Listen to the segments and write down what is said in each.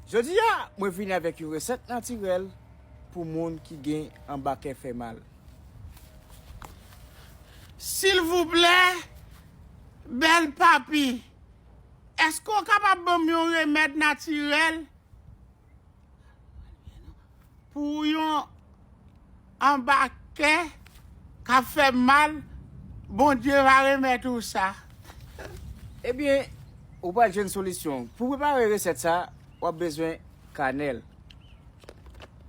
Jodi a mwen vini avèk yon resèt natirèl pou moun ki gen anba kè fè mal. Silvouplè bèl papi eske ou kapab banm yon remèd natirèl. Pou yon anba kè kap fè mal Bondye va remèt ou sa. Ebyen ou pral jwenn solisyon. Pou prepare resèt sa, wap bezwen kanèl.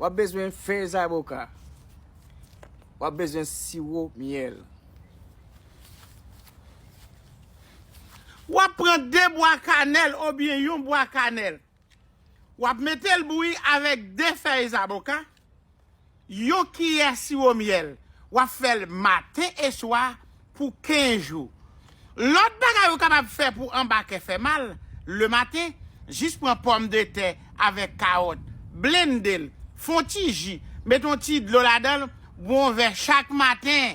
Wap bezwen fèy zaboka. Wap bezwen siwo myèl. Wap pran 2 bwa kanèl obyen yon bwa kanèl. Wap metel bouyi avek 2 fèy zaboka, yon kiyè siwo myèl. Wap fèl maten e swa pou 15 jou. Lòt bagay ou kapab fè pou anba kè fè mal, le maten, jis pran pòm de tè avek kawòt, blendel, fon ti ji, met yon ti dlo ladanl, bwon vè chak maten.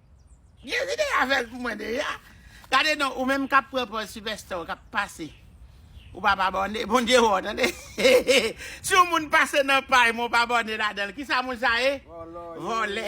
Jezi te avèl pou mwen deja. Gade non ou menm kap pran pòz sipèsta ou kap pase ou pap abòne Bondye wè w tande si yon moun pase nan pay mwen ou pa abòne ladanl kisa moun sa ye vòlè.